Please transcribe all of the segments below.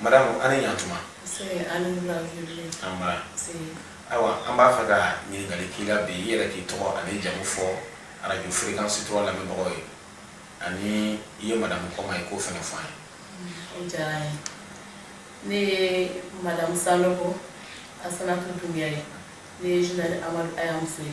madamu an ni yantuma ayiwa an b'a fɛ ka ɲininkali k'i la bi i yɛrɛ k'i tɔgɔ ani jamu fɔ arajo firikansi tura lamɛnbagaw ye ani i ye madamu kɔma ye k'o fɛnɛ fɔ an ye diyara n ye ne ye madamu sanɔgɔ asanatu dunbiya ye ne ye zenerali amadu aya muso ye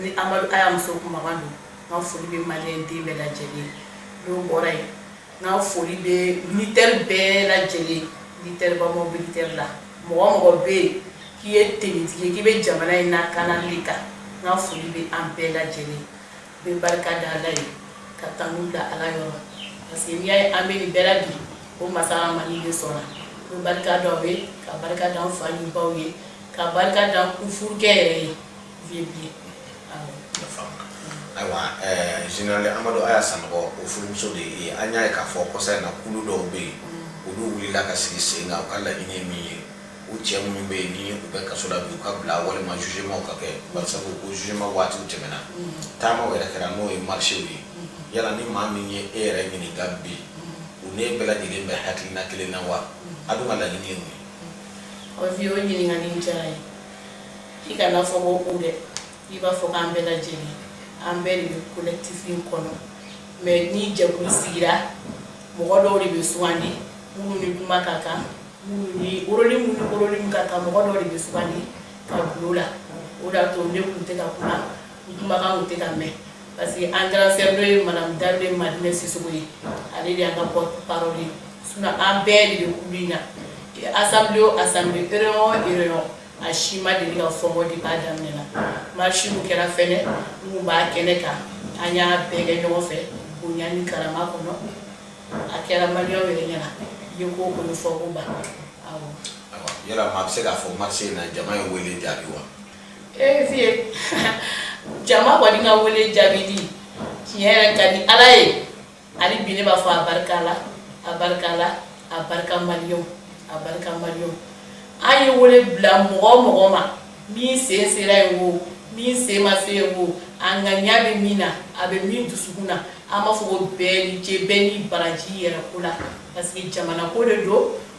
ni amadu aya muso kuma don n ka foli bɛ maliden bɛɛ lajɛ lajɛlen dɔ bɔra yen n ka foli bɛ militɛri bɛɛ lajɛ lajɛlen militɛri ba ma militɛri la mɔgɔ mɔgɔ bɛ yen k'i ye tenitigi k'i bɛ jamana in lakanali kan n ka foli bɛ an bɛɛ lajɛ lajɛlen bɛ barika da ala ye ka tanu da ala yɔrɔ parce que n'i y'a ye an bɛ nin bɛɛ la bi o masa dali de sɔnna n bɛ barika da o ye ka barika da an fa ni baw ye ka barika da u furukɛ yɛrɛ ye Ayiwa zenerali amadu aya sanɔgɔ furumuso de ye an y'a ye k'a fɔ kosa in na kulu dɔw bɛ yen olu wulila ka sigi sen kan u ka laɲini ye min ye u cɛ minnu bɛ yen ni u bɛ kaso la u ka bila walima jugement ka kɛ parce que jugement waati tɛmɛna taama yɛrɛ kɛra n'o ye marche ye yala ni maa min ye e yɛrɛ ɲininka bi u n'e bɛɛ lajɛlen bɛ hakilina kelen na wa a dun ka laɲini ye ye o ɲininkali diyara n ye i kana fɔ ko u dɛ i b'a fɔ k'an bɛɛ lajɛlen an bɛɛ de bɛ collectif in kɔnɔ mais ni jɛkulu sigira mɔgɔ dɔw de bɛ sugandi minnu ni kuma ka kan minnu ni oroli minnu oroli ka kan mɔgɔ dɔw de bɛ sugandi ka bila o la o de y'a to ne kun tɛ ka kuma n kumakan kun tɛ ka mɛn parce que an grande sœur de ye madame Dembélé Madinɛ Sisoko ye ale de y'an ka porte parole ye sinon an bɛɛ de bɛ kulu in na assemblée o assemblée réunion o réunion a si ma deli ka fɔ n kɔ depuis a daminɛ na marche min kɛra fɛnɛ n kun b'a kɛnɛ kan an y'a bɛɛ kɛ ɲɔgɔn fɛ bonya ni karama kɔnɔ a kɛra maliyɛnw yɛrɛ ɲɛna ye ko o ye fɔ n kɔ ban awɔ yala maa bɛ se k'a fɔ marche in na jama ye wele jaabi wa ee jama kɔni ka wele jaabi dɛ tiɲɛ yɛrɛ ka di ala ye hali bi ne b'a fɔ a barika la a barika la a barika maliyɛnw a barika maliyɛnw an ye wele bila mɔgɔ mɔgɔ ma min sen sera yen wo min sen ma se yen wo a ŋaniya bɛ min na a bɛ min dusukun na an b'a fɔ o bɛɛ ni ce bɛɛ ni baraji yɛrɛ ko la parce que jamana ko de don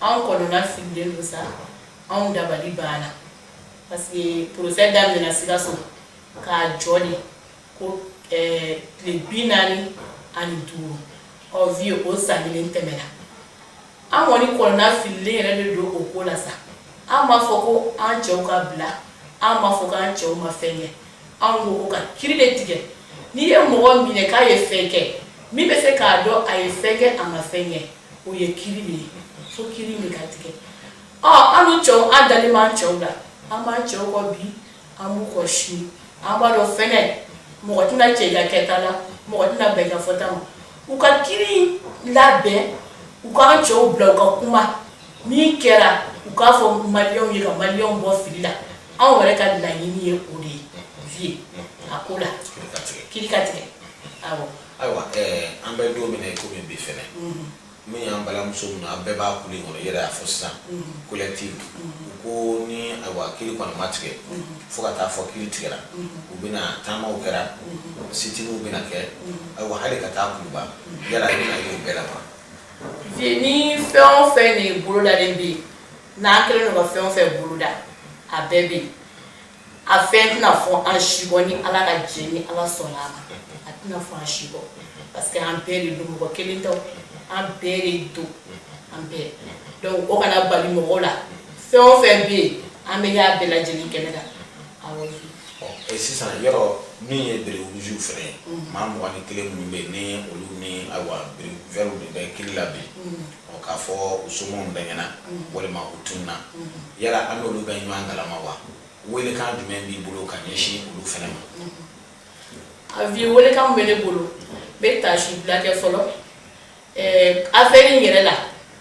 anw kɔnɔna fililen don sa anw dabali banna parce que procès daminɛna sikaso k'a jɔ de ko eh, tile bi naani ani duuru ɔ vieux o san kelen tɛmɛna an kɔni kɔnɔna fililen yɛrɛ de don o ko la sa an m'a fɔ ko an cɛw ka bila an m'a fɔ k'an cɛw ma fɛn kɛ anw ko ko ka kiri de tigɛ n'i ye mɔgɔ minɛ k'a ye fɛn kɛ min bɛ se k'a dɔn a ye fɛn kɛ a ma fɛn kɛ o ye kiri de ye fo kiri de ka tigɛ an cɛw an dalen b'an cɛw la an b'an cɛw kɔ bi an b'u kɔ sini an b'a dɔn fɛnɛ mɔgɔ tɛna cɛ i ka kɛta la mɔgɔ tɛna bɛn i ka fɔta ma u ka kiri labɛn u k'an cɛw bila u ka kuma min kɛra u k'a fɔ maliyɛnw ye ka maliyɛnw bɔ fili la anw yɛrɛ ka laɲini ye o de ye vieux a ko la kiri ka tigɛ awɔ Ayiwa an bɛ don min na ko min bi fɛnɛ min y'an balimamuso min an bɛɛ b'a kun kɔnɔ yɛrɛ y'a fɔ sisan collectif ko ni kiri kɔni ma tigɛ fo ka taa fɔ kiri tigɛra u bɛna taama kɛra sitiniw bɛna kɛ ayiwa hali ka taa kuluba yala i bɛna y'o bɛɛ la wa vieux ni fɛn o fɛn de bolodalen bɛ yen n'an kɛlen don ka fɛn o fɛn boloda a bɛɛ bɛ yen a fɛn tɛna fɔ an si kɔ ni ala ka jɛ ni ala sɔnna a ma a tɛna fɔ an si kɔ parce que an bɛɛ de don mɔgɔ kelen tɛ an bɛɛ de don an bɛɛ donc o kana bali mɔgɔw la fɛn o fɛn bɛ yen an bɛ y'a bɛɛ lajɛlen kɛnɛ kan awɔ sisan yɔrɔ min ye bérets rouges fɛnɛ maa mugan ni kelen minnu bɛ yen ni olu ni ayiwa bérets verts de bɛ kiri la bi ɔ k'a fɔ u somɔgɔw bɛɛ ɲɛna walima u tununa yala an n'olu bɛ ɲɔgɔn kalama wa welekan jumɛn b'i bolo ka ɲɛsin olu fɛnɛ ma a vieux welekan bɛ ne bolo n bɛ taasi bila kɛ fɔlɔ afɛri in yɛrɛ la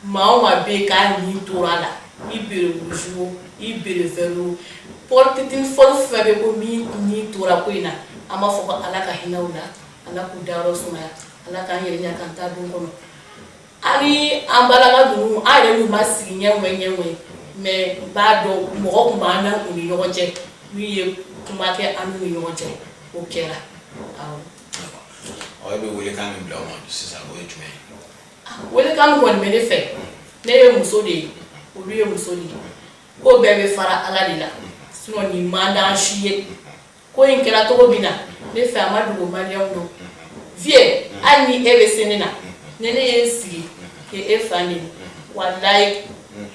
maa o maa bɛ yen k'a ni tora a la i béret rouge o i béret vert porteur d'uniforme fɛn bɛ ko min ni tora ko in na an b'a fɔ ko ala ka hinɛ u la ala k'u dayɔrɔ sumaya ala k'an yɛrɛ ɲɛ k'an ta don kɔnɔ an ni an balaka ninnu an yɛrɛ n'u ma sigi ɲɛ ŋɛ ɲɛ ŋɛ mais n b'a dɔn mɔgɔ tun b'an na u ni ɲɔgɔn cɛ min ye kuma kɛ an n'u ni ɲɔgɔn cɛ o kɛra awɔ ɔ e bɛ welekan min bila o ma sisan o ye jumɛn ye welekan min kɔni bɛ ne fɛ ne ye muso de ye olu ye muso de ye ko bɛɛ bɛ fara ala de la sinon nin man d'an si ye ko in kɛra cogo min na ne fɛ a ma dogo maliyɛnw don vieux hali ni e bɛ se ne na ni ne ye n sigi k'e fa neni walayi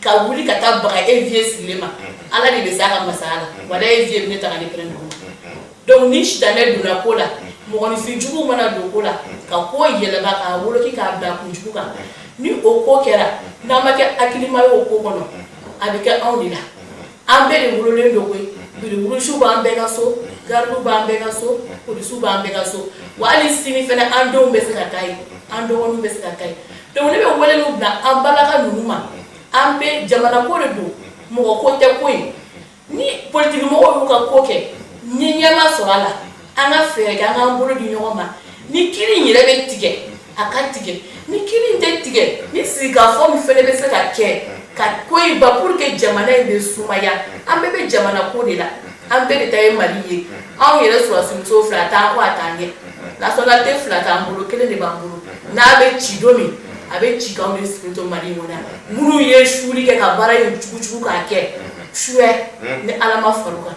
ka wuli ka taa baga e vieux sigilen ma ala de bɛ s'a ka masaya la walayi e vieux bɛ ne ta ka ne pɛrɛn dugu ma donc ni sitanɛ donna ko la mɔgɔninfin juguw mana don ko la ka ko yɛlɛma k'a woloki k'a bila kunjugu kan ni o ko kɛra n'an ma kɛ hakilima ye o ko kɔnɔ a bɛ kɛ anw de la an bɛɛ de wololen don koyi bérets rouges b'an bɛɛ ka so garidiw b'an bɛɛ ka so polisiw b'an bɛɛ ka so wa hali sini fɛnɛ an denw bɛ se ka k'a ye an dɔgɔninw bɛ se ka k'a ye donc ne bɛ weleliw bila an balaka ninnu ma an bɛɛ jamana ko de don mɔgɔ ko tɛ koyi ni politikimɔgɔw y'u ka ko kɛ ni ɲɛ ma sɔrɔ a la an ka fɛɛrɛ kɛ an k'an bolo di ɲɔgɔn ma ni kiri in yɛrɛ bɛ tigɛ a ka tigɛ ni kiri in tɛ tigɛ ni sigikafɔ min fɛnɛ bɛ se ka kɛ ka ko in ban pour que jamana in bɛ sumaya an bɛɛ bɛ jamana ko de la an bɛɛ de ta ye mali ye anw yɛrɛ sɔrɔdasimuso fila t'an kɔ a t'an ɲɛ nationalité fila t'an bolo kelen de b'an bolo n'a bɛ ci don min a bɛ ci k'anw de sigilen to mali in kɔnɔ yan minnu ye suuli kɛ ka baara in jugujugu k'a kɛ suya ni ala ma far'u kan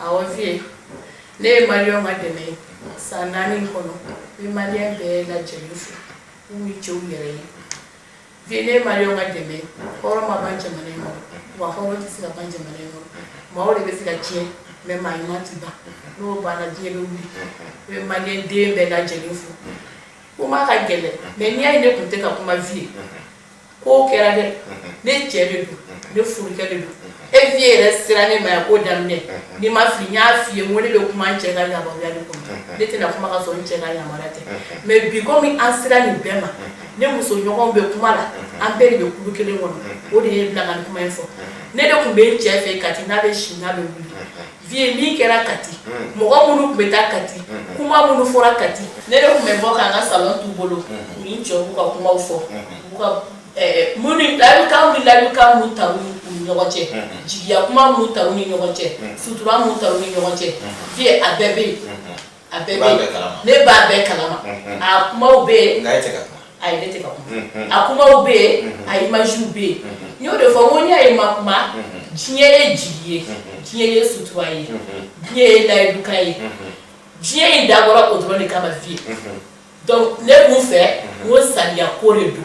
Awa Vie, ne ye Maliyɛnw ka dɛmɛ ye san naani in kɔnɔ n bɛ Maliyɛn bɛɛ lajɛlen fo n'u ye cɛw yɛrɛ ye Vie ne ye Maliyɛnw ka dɛmɛ ye hɔrɔn ma ban jamana in kɔnɔ wa hɔrɔn tɛ se ka ban jamana in kɔnɔ maaw de bɛ se ka tiɲɛ mais maa ɲuman tɛ ban n'o banna diɲɛ bɛ wuli n bɛ Maliyɛn den bɛɛ lajɛlen fo kuma ka gɛlɛn mais n'i y'a ye ne tun tɛ ka kuma Vie ye ko kɛra dɛ ne cɛ de don ne furukɛ de don e vie yɛrɛ sera ne ma yan ko daminɛ ni n ma fili n y'a f'i ye n ko ne bɛ kuma n cɛ ka yamaruya de kɔnɔ ne tɛna kuma ka sɔrɔ n cɛ ka yamaruya tɛ mais bi komi an sera nin bɛɛ ma ne muso ɲɔgɔnw bɛ kuma la an bɛɛ de bɛ kulu kelen kɔnɔ o de ye n bila ka nin kuma in fɔ ne de tun bɛ n cɛ fɛ Kati n'a bɛ si n'a bɛ wuli vie min kɛra kati mɔgɔ minnu tun bɛ taa kati kuma minnu fɔra kati ne de tun bɛ bɔ k'an ka salon t'u bolo u ni n cɛ b'u ka kumaw fɔ u ka minnu layidukan ni layidukan minnu ta u ni ɲɔgɔn cɛ jigiya kuma minnu ta u ni ɲɔgɔn cɛ sutura minnu ta u ni ɲɔgɔn cɛ vie a bɛɛ bɛ yen A bɛɛ bɛ yen ne b'a bɛɛ kalama a kumaw bɛ yen ayi ne tɛ ka kuma a kumaw bɛ yen a images bɛ yen n y'o de fɔ n ko n'i y'a ye n ma kuma diɲɛ ye jigi ye diɲɛ ye sutura ye diɲɛ ye layidukan ye diɲɛ in dabɔra o dɔrɔn de kama vie donc ne b'u fɛ ko sariya ko de don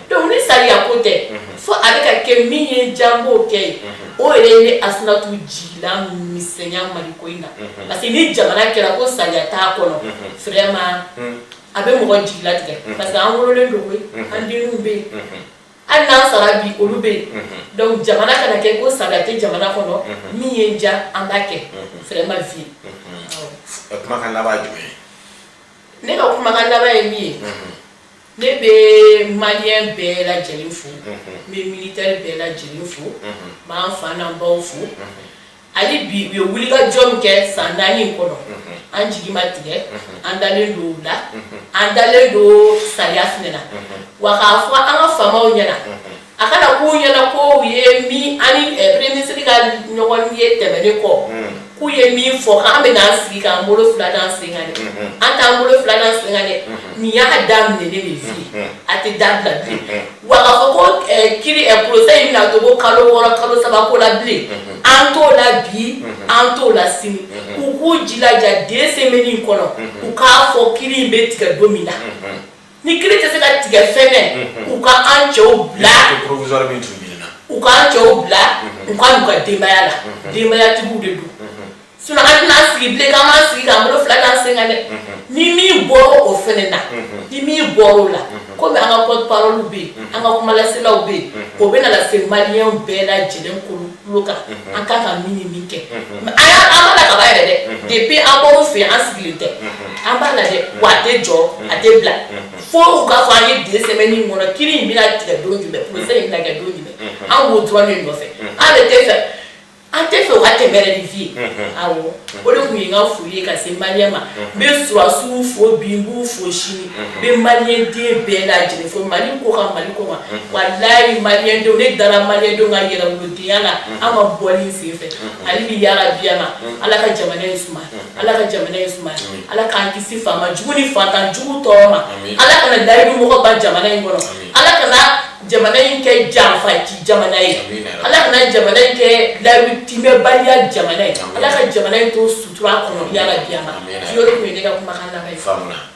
donc ni sariya ko tɛ fo a bɛ ka kɛ min ye diya an b'o kɛ ye o yɛrɛ ye ne asinatu jigila misɛnya mali ko in na parce que ni jamana kɛra ko sariya t'a kɔnɔ vraiment a bɛ mɔgɔ jigila tigɛ parce que an wololen don koyi an denw bɛ yen hali n'an sara bi olu bɛ yen donc jamana kana kɛ ko sariya tɛ jamana kɔnɔ min ye diya an b'a kɛ vraiment vie kumakan laban ye jumɛn ye ne ka kumakan laban ye min ye Ne bɛ malien bɛɛ lajɛlen fo, unhun, n bɛ militaire bɛɛ lajɛlen fo, unhun, n b'an fa n'an baw fo, unhun, hali bi u ye wulikajɔ min kɛ san naani in kɔnɔ, unhun, an jigi ma tigɛ, unhun, an dalen don u la, unhun, an dalen don sariya fana na, unhun, wa k'a fɔ an ka faamaw ɲɛna, unhun. a kana k'u ɲɛna ko u ye min an ni premier ministre ka ɲɔgɔnye tɛmɛnen kɔ k'u ye min fɔ k'an bɛ n'an sigi k'an bolo fila d'an sen kan dɛ an t'an bolo fila d'an sen kan dɛ nin y'a daminɛ ne bɛ fi a tɛ dabila bilen wa k'a fɔ ko kiri procès in bɛna to ko kalo wɔɔrɔ kalo saba ko la bilen an t'o la bi an t'o la sini u k'u jilaja deux semaines in kɔnɔ u k'a fɔ kiri in bɛ tigɛ don min na. ni kiri tɛ se ka tigɛ fɛnɛ u ka an cɛw bila provisoire min tun ɲinina u ka an cɛw bila u ka n'u ka denbaya la denbayatigiw de don sinon an tɛna sigi bilen k'an b'an sigi k'an bolo fila d'an sen kan dɛ ni min bɔra o fɛnɛ na ni min bɔra o la komi an ka porte parole bɛ yen an ka kumalaselaw bɛ yen o bɛna lase maliyɛnw bɛɛ lajɛlen tulo tulo kan unhun an kan ka min ni min kɛ unhun mais an y'a an b'a la kaban yɛrɛ dɛ unhun depuis an bɔr'u fɛ yen an sigilen tɛ unhun an b'a la dɛ unhun wa a tɛ jɔ a tɛ bila unhun fo u k'a fɔ an ye deux semaines in kɔnɔ kiri in bɛna tigɛ don jumɛn procès in bɛna kɛ don jumɛn unhun an b'o dɔrɔn de nɔfɛ unhun an de tɛ fɛ an tɛ fɛ u ka tɛmɛ yɛrɛ ni vie ye unhun awɔ o de tun ye n ka foli ye ka se maliyɛn ma n bɛ sɔrɔdasiw fo bi n b'u fo sini n bɛ maliyɛnden bɛɛ lajɛlen fo mali ko kan mali ko kan walayi maliyɛndenw ne dara maliyɛndenw ka yɛrɛwolodenya la an ka bɔli in sen fɛ hali bi yarabi ma ala ka jamana in suma ala ka jamana in suma ala k'an kisi faama jugu ni fantan jugu tɔɔrɔ ma ala kana layidu mɔgɔ ban jamana in kɔnɔ ala kana jamana in kɛ janfanci jamana ye ala kana jamana in kɛ layidu timɛbaliya jamana ye ala ka jamana in to sutura kɔnɔ yarabi ma yɔrɔ tun ye ne ka kumakan laban faamuya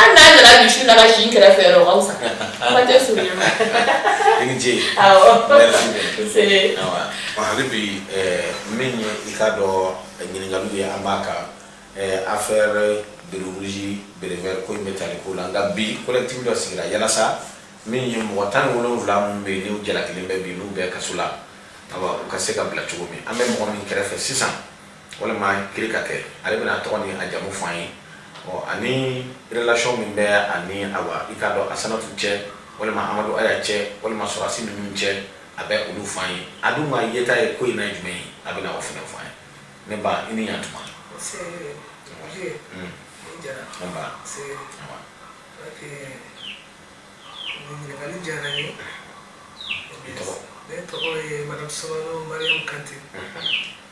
An n'a nana misi na si kɛrɛfɛ fɛ aw sa tɛ so i ni ce hali bi min ye i ka dɔn ɲininkaliw ye an b'a kan affaire béret rouge béret vert ko in bɛ tali ko la nka bi collectif dɔ sigira yalasa min ye mɔgɔ tan wolonwula minnu bɛ yen n'u jalakilen bɛ bi n'u bɛ kaso la u ka se ka bila cogo min an bɛ mɔgɔ min kɛrɛfɛ sisan walima kiri ka kɛ ale bɛna tɔgɔ ni a jamu fɔ an ye ɔ ani relation min bɛ a ni awa i k'a dɔn asanatu cɛ walima amadu aya cɛ walima sɔrɔdasi ninnu cɛ a bɛ olu fɔ an ye a dun ma yeta ye ko in na jumɛn ye a bɛna o fana fɔ an ye ne ba i ni yan tuma ɲininkali diyara n ye ne tɔgɔ ye madame soumano mariam kante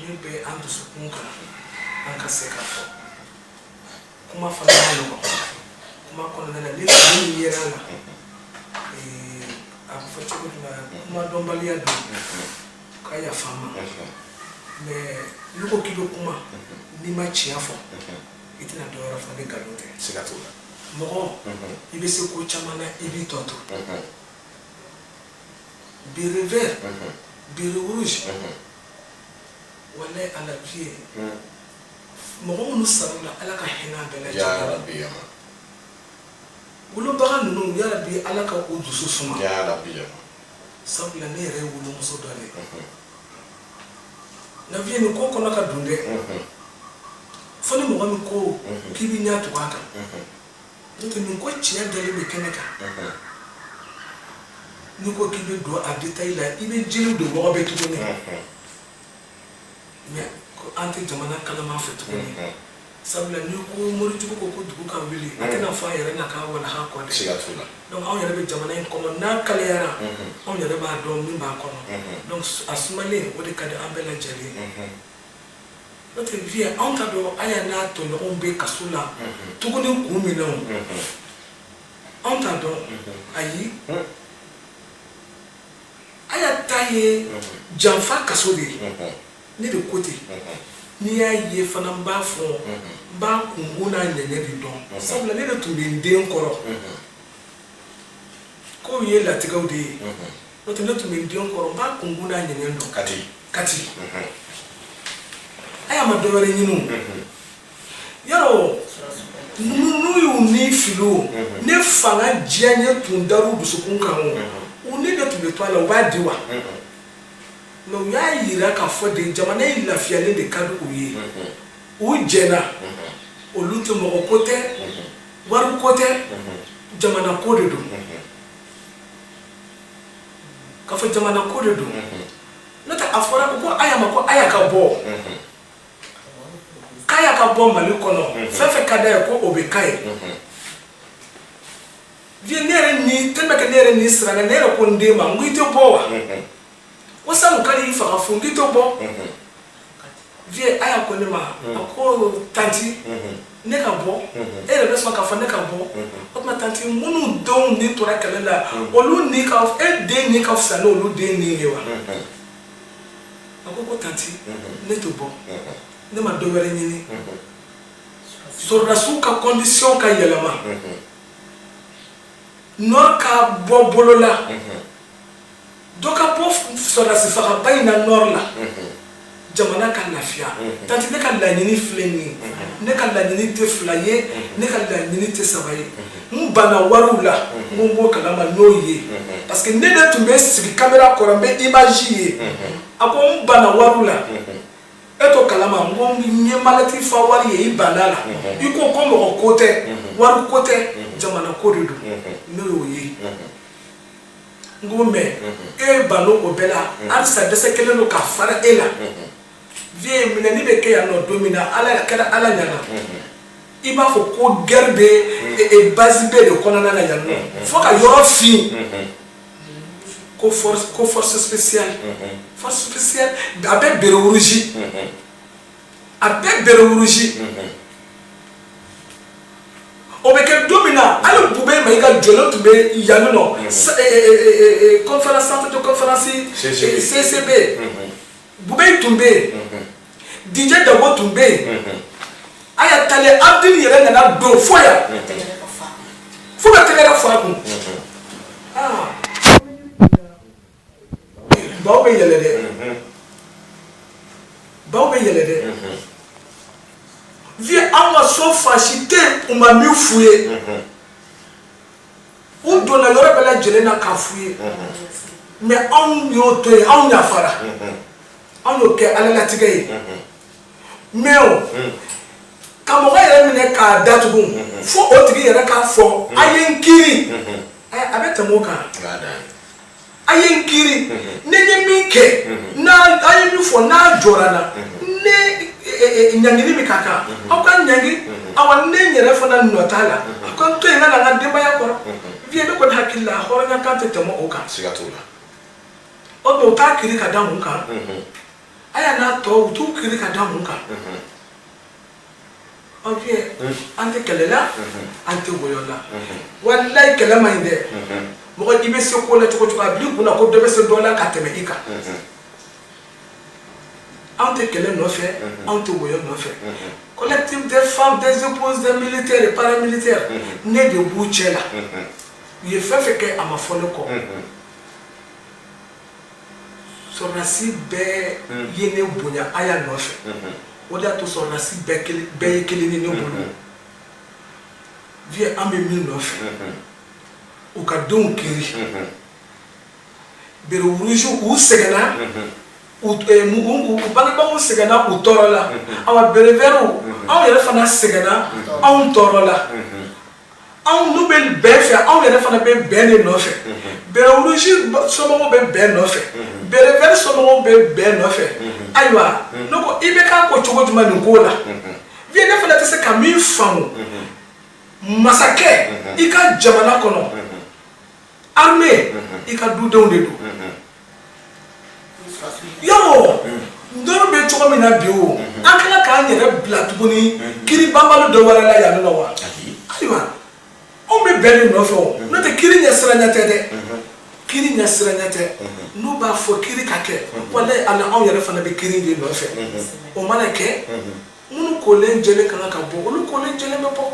min bɛ an dusukun kan an ka se k'a fɔ kuma fana man nɔgɔn kuma kɔnɔna na ni fili min yera a la ee, a bɛ fɔ cogo min na kuma dɔnbaliya don ka yafa n ma mais n'i ko k'i bɛ kuma n'i ma tiɲɛ fɔ i tɛna dɔ wɛrɛ fɔ ni nkalon tɛ siga t'o la mɔgɔ i bɛ se ko caman na i b'i tɔ to béret vert béret rouge walayi ala vieux mɔgɔ minnu sara a la ala ka hinɛ an bɛɛ lajɛlen wolobaga ninnu yarabi ala ka o dusu suma sabula ne yɛrɛ ye wolomuso dɔ de ye na vieux nin ko kɔnɔ ka dun dɛ fo ni mɔgɔ min ko k'i b'i ɲɛ tugu a kan Nin ko tiɲɛ dalen bɛ kɛnɛ kan n'i ko k'i bɛ don a détail la i bɛ jiri don mɔgɔ bɛ tuguni mais an tɛ jamana kalama fɛ tuguni sabula n'i ko morijugu ko ko dugu ka wuli a tɛna fɔ a yɛrɛ n'a ka walaha kɔ dɛ donc anw yɛrɛ bɛ jamana in kɔnɔ n'a kalayara anw yɛrɛ b'a dɔn min b'a kɔnɔ donc a sumalen o de ka di an bɛɛ lajɛlen N'o tɛ vieux anw t'a dɔn aya n'a tɔɲɔgɔnw bɛ kaso la tuguni kun min na anw t'a dɔn ayi aya ta ye janfa kaso de ye ne de ko ten n'i y'a ye fana n b'a fɔ n b'a kunkun n'a ɲɛɲɛ de dɔn sabula ne de tun bɛ n den kɔrɔ k'o ye latigɛw de ye n'o tɛ ne tun bɛ n den kɔrɔ n b'a kunkun n'a ɲɛɲɛ dɔn kati aya ma dɔ wɛrɛ ɲini o yɔrɔ n'u y'u ni fili o ni fanga diyaɲɛ tun dar'u dusukun kan olu de tun bɛ to a la u b'a di wa mais u y'a yira k'a fɔ de jamana in lafiyalen de ka di u ye u jɛna olu tɛ mɔgɔ ko tɛ wari ko tɛ jamana ko de don k'a fɔ jamana ko de don n'o tɛ a fɔra ko aya ma ko aya ka bɔ k'aya ka bɔ mali kɔnɔ fɛn fɛn ka d'a ye ko o bɛ k'a ye vieux ne yɛrɛ ni tellement que ne yɛrɛ ni siranna ne yɛrɛ ko n den ma n ko i tɛ bɔ wa walasa u kan'i faga fu n k'i tɛ bɔ mhm. vieux aya ko ne ma mhm. ko tanti mhm. ne ka bɔ e yɛrɛ bɛ sɔn k'a fɔ ne ka bɔ o tuma tanti minnu denw ni tora kɛlɛ la olu ni ka e den ni ka fisa n'olu den ni ye wa a ko ko tanti ne tɛ bɔ ne ma dɔ wɛrɛ ɲini sɔrɔdasiw ka kɔndisiyɔn ka yɛlɛma nɔri ka bɔ bolo la. dɔ ka bɔ sɔrɔdasifaga ba in na nɔri la jamana ka lafiya tanti ne ka laɲini filɛ nin ye ne ka laɲini tɛ fila ye ne ka laɲini tɛ saba ye n banna wariw la n ko n b'o kalama n'o ye parce que ne de tun bɛ sigi kamera kɔrɔ n bɛ image ye a ko n banna wariw la e t'o kalama n ko n ye malɛti fa wari ye i bann'a la i ko ko mɔgɔ ko tɛ wari ko tɛ jamana ko de don n'o y'o ye n ko mɛ e banna o bɛɛ la halisa dɛsɛ kɛlen don ka fara e la vieux minɛni bɛ kɛ yan nɔ don min na ala kɛra ala ɲana i b'a fɔ ko gɛri bɛ e, e, base B de kɔnɔna na yan nɔ fo ka yɔrɔ fin ko force spéciale force spéciale a bɛ béret rouge a bɛɛ bɛrɛwurusi o bɛ kɛ don min na hali bu bɛ ma i ka jɔlɔ tun bɛ yanni nɔ kɔnfana sanfɛ to kɔnfanasi ccb bu bɛ tun bɛ yen dijɛ dabo tun bɛ yen a y'a tali abudulu yɛrɛ nana don fo yan fo ka tɛgɛɛrɛ fa kun Baw bɛ yɛlɛ dɛ baw bɛ yɛlɛ dɛ vieux an ka so fan si tɛ u ma min fuye u donna yɔrɔ bɛɛ lajɛlen na k'a fuye mɛ anw y'o to yen anw yafara anw y'o kɛ ala latigɛ ye mɛ o ka mɔgɔ yɛrɛ minɛ k'a datugu fo o tigi yɛrɛ k'a fɔ a ye n kiri a bɛ tɛmɛ o kan a ye n kiri ne ye min kɛ a ye min fɔ n'a jɔra n na ne ɲangili min ka kan aw ka ɲangi awa ne yɛrɛ fana nɔ t'a la a ka n to yen ka na n ka denbaya kɔrɔ vieux ne kɔni hakili la hɔrɔnya kan tɛ tɛmɛ o kan siga t'o la o tuma u t'a kiri ka da mun kan aya n'a tɔw u t'u kiri ka da mun kan an tɛ kɛlɛ la an tɛ wɔyɔ la walayi kɛlɛ man ɲi dɛ mɔgɔ i bɛ se ko la cogo cogo a bil'i kun na ko dɔ bɛ se dɔ la ka tɛmɛ i kan anw tɛ kɛlɛ nɔfɛ anw tɛ wɔyɔ nɔfɛ collectif des femmes des épouses des militaires et paramilitaires ne de b'u cɛ la u ye fɛn fɛn kɛ a ma fɔ ne kɔ sɔrɔdasi bɛɛ ye ne bonya a y'a nɔfɛ o de y'a to sɔrɔdasi bɛɛ ye kelen ni ne bolo vieux an bɛ min nɔfɛ u ka denw kiri béret rouge u sɛgɛnna u bangebaaw sɛgɛnna u tɔɔrɔla awa béret vertw anw yɛrɛ fana sɛgɛnna anw tɔɔrɔla anw n'u bɛ bɛn fɛ anw yɛrɛ fana bɛ bɛn de nɔfɛ béret rouge somɔgɔw bɛ bɛn nɔfɛ béret vert somɔgɔw bɛ bɛn nɔfɛ ayiwa ne ko IBK ko cogo jumɛn nin ko la vieux ne fana tɛ se ka min faamu masakɛ i ka jamana kɔnɔ armée i ka dudenw de don Yɔrɔ dɔw bɛ cogo min na bi o an kan k'an yɛrɛ bila tuguni kiri banbali dɔ wɛrɛ la yan wa ayiwa anw bɛ bɛn de nɔfɛ n'o tɛ kiri ɲɛsiranya tɛ dɛ kiri ɲɛsiranya tɛ n'u b'a fɔ kiri ka kɛ walayi ala anw yɛrɛ fana bɛ kiri de nɔfɛ o mana kɛ minnu kolen jɛlen ka kan ka bɔ olu kolen jɛlen bɛ bɔ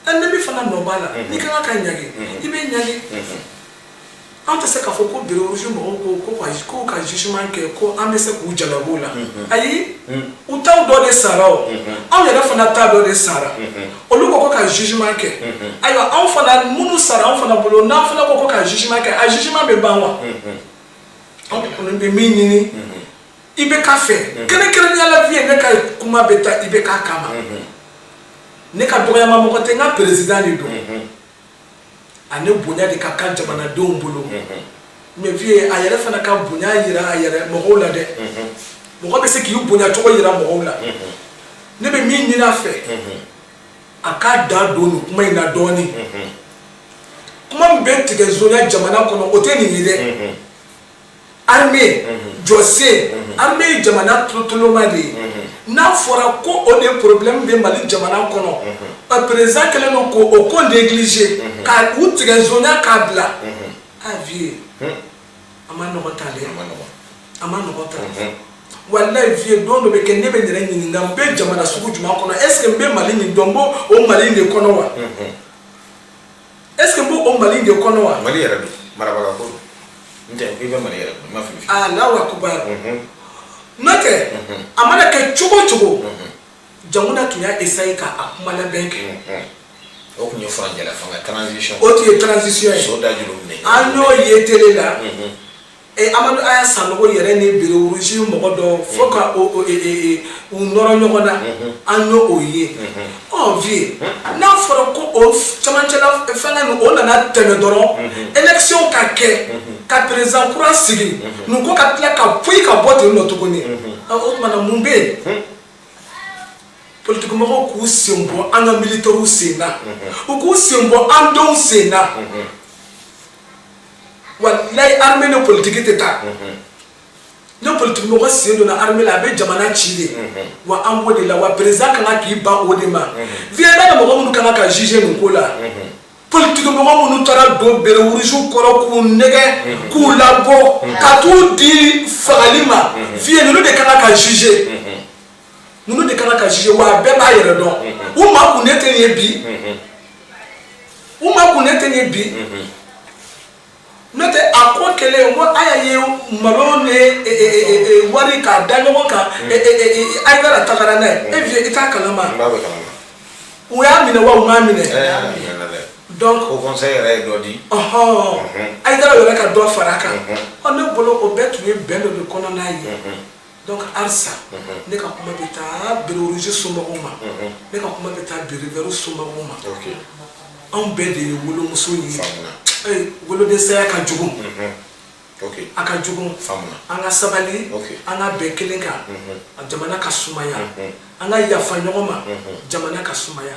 an bɛ min fana nɔ b'a la n'i ka kan ka ɲangi i bɛ ɲangi an tɛ se k'a fɔ ko béret rouge mɔgɔw ko ko ka jugement kɛ ko an bɛ se k'u jalaki o la ayi u ta dɔ de sara o anw yɛrɛ fana ta dɔ de sara olu ko ko ka jugement kɛ ayiwa anw fana minnu sara anw fana bolo n'an fana ko ko ka jugement kɛ a jugement bɛ ban wa anw kɔni bɛ min ɲini IBK fɛ kɛrɛnkɛrɛnnenya la vieux ne ka kuma bɛ taa IBK kama ne ka dɔgɔyama mɔgɔ tɛ n ka président de don ani bonya de ka kan jamanadenw bolo mais vieux a yɛrɛ fana ka bonya yira a yɛrɛ mɔgɔw la dɛ mɔgɔ bɛ se k'i bonyacogo yira mɔgɔw la ne bɛ min ɲini a fɛ a k'a da don nin kuma in na dɔɔnin kuma min bɛ tigɛ zonya jamana kɔnɔ o tɛ nin ye dɛ armée jɔsen armée ye jamana tolotoloma de ye n'a fɔra ko o de problème bɛ mali jamana kɔnɔ président kɛlen don ko o ko négliger ka u tigɛ zonya k'a bila a vieux a man nɔgɔ tan dɛ a man nɔgɔ tan walayi vieux don dɔ bɛ kɛ ne bɛ n yɛrɛ ɲininka n bɛ jamana sugu jumɛn kɔnɔ est ce que n bɛ mali min dɔn n b'o o mali in de kɔnɔ wa est-ce que n b'o o Mali in de kɔnɔ wa? Mali yɛrɛ don marabagaw ko don n'o tɛ i bɛ Mali yɛrɛ kɔnɔ n ma fili. Allahu akbar n'o tɛ a mana kɛ cogo o cogo jamana tun y'a essayer ka a kuma labɛn kɛ. O tun ye furancɛla fanga transition o tun ye transition ye so da juru minɛ an y'o ye télé la. Ee Amadu Aya Sanɔgɔ yɛrɛ ni béret rouge mɔgɔ dɔ fo ka u nɔrɔ ɲɔgɔn na an y' o ye ɔ vieux n'a fɔra ko o camancɛla fanga nin o nana tɛmɛ dɔrɔn élection ka kɛ ka président kura sigi nin ko ka tila ka poyi ka bɔ ten nɔ tuguni o tuma na mun bɛ yen politiki mɔgɔw k'u sen bɔ an ka militaires sen na u k'u sen bɔ an denw sen na walayi armée ni politique tɛ taa ni politiki mɔgɔ sen donna armée la a bɛ jamana ci de wa an b'o de la wa président kan ka k'i ban o de ma vieux n'a mɔgɔ minnu kan ka juger nin ko la politiki mɔgɔ minnu taara don bérets rouges kɔrɔ k'u nɛgɛn k'u labɔ ka t'u di fagali ma vieux ninnu de kan ka juger ninnu de kan ka juger wa a bɛɛ b'a yɛrɛ dɔn u makunnen tɛ nin ye bi u makunnen tɛ nin ye bi n'o tɛ a ko kɛlen kɔ a y'a ye malo ni e, e, e, wari k'a da ɲɔgɔn kan Ayidara tagara n'a ye e vieux i t'a kalama u y'a minɛ wa u m'a minɛ donc haut conseil yɛrɛ ye dɔ di ɔhɔn Ayidara yɛrɛ ka dɔ fara a kan ɔ ne bolo o bɛɛ tun ye bɛn dɔ de kɔnɔna ye Donc halisa ne ka kuma bɛ taa béret rouge somɔgɔw ma ne ka kuma bɛ taa béret vert somɔgɔw ma anw bɛɛ de ye wolomuso ye wolodensaya ka jugu a ka jugu an ka sabali an ka bɛn kelen kan jamana ka sumaya an ka yafa ɲɔgɔn ma jamana ka sumaya.